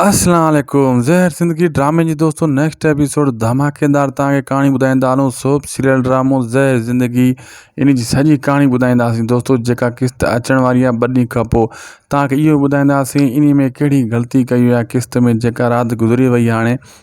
السلام عليڪم زهر زندگي ڊرامي جي دوستو نيڪسٽ ايپيسوڊ ڌماڪيدار تان کي ڪهاڻي ٻڌائيندا هلون سوپ سيريل ڊرامو زهر زندگي ان جي سڄي ڪهاڻي ٻڌائينداسين دوستو جيڪا قسط اچڻ واري آهي ٻه ڏينهن کان پوء تان کي اهو ٻڌائينداسين ان ۾ ڪهڙي غلطي ڪئي وئي آهي قسط ۾ جيڪا رات گذري وئي هاڻي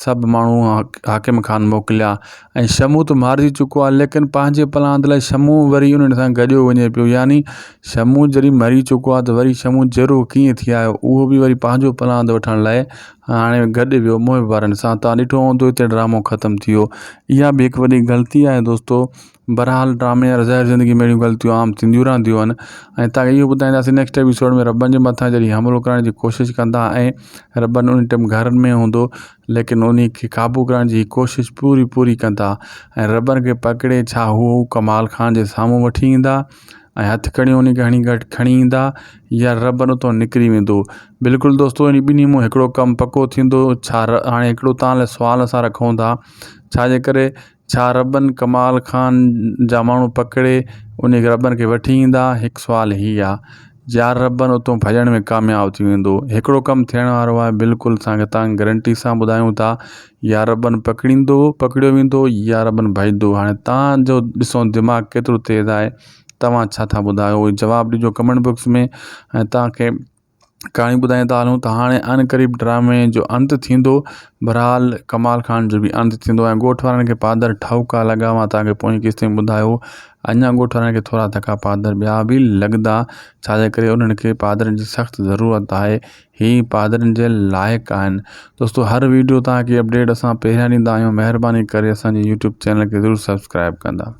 سڀ ماڻهو حاڪم خان موڪليا ۽ شمون ته مارجي چڪو آهي ليڪن پنهنجي پلاند لاء شمون وري انهن سان گڏيو وڃي پيو يعني شمون جڏهن مري چڪو آهي ته وري شمون جيرو ڪيئن ٿي آيو اهو بي وري پنهنجو پلاند وٺڻ لاء هاڻي گڏ ويو محب وارن سان تان ڏٺو هوندو هتي ڊرامو ختم ٿي ويو اها بي هڪ وڏي غلطي آهي دوستو بھرحال ڊرامي ۽ ظاھر زندگي ۾ اھڙيون غلطيون عام ٿينديون رھنديون آھن ۽ تاکي اھو ٻڌائينداسين نيڪسٽ ايپيسوڊ ۾ ربن جي مٿان جڏھن حملو ڪرڻ جي ڪوشش ڪندا ۽ ربن ان ٽيم گھرن ۾ ھوندو ليڪن انھي کي قابو ڪرڻ جي ڪوشش پوري پوري ڪندا ۽ ربن کي پڪڙي ڇا ھو ڪمال خان جي سامھون وٺي ايندا ۽ ھٿ ڪڙيون انھي کي ھڻي گھٽ کڻي ايندا يا ربن اتو نڪري ويندو بلڪل دوستو انھي ٻنھي مون ھڪڙو ڪم پڪو ٿيندو ڇا ھاڻي ھڪڙو تان لاء سوال اسان رکون ٿا ڇا جي ڪري ڇا ربن ڪمال خان جا ماڻهو پڪڙي انهي ربن کي وٺي ايندا هڪ سوال هي آ جيار ربن اتون ڀڄڻ ۾ ڪامياب ٿي ويندو هڪڙو ڪم ٿيڻ وارو آهي بلڪل اسان کي تان گرنٽي سان ٻڌايون ٿا يا ربن پڪڙيندو پڪڙيو ويندو يا ربن ڀڄندو هاڻي تان جو ڏسو دماغ ڪيترو تيز آهي توهان ڇا ٿا ٻڌايو جواب ڏجو ڪمينٽ بوڪس ۾ ۽ تان کي ڪهاڻي ٻڌائين ته هلون ته هاڻي ان قريب ڊرامي جو انت ٿيندو برحال ڪمال خان جو بي انت ٿيندو ۽ ڳوٺ وارن کي پادر ٺاهوڪا لڳا هئا تاڪه پوئين قسط ۾ ٻڌايو اڃا ڳوٺ وارن کي ٿورا ڌڪا پادر ٻيا به لڳندا ڇاجي ڪري انهن کي پادرن جي سخت ضرورت آهي هي پادرن جي لائق آهن دوستو هر ويڊيو تان کي اپڊيٽ اسان پهريان ڏيندا آهيون مهرباني ڪري اسان جي يوٽيوب چينل کي ضرور سبسڪرائب ڪندا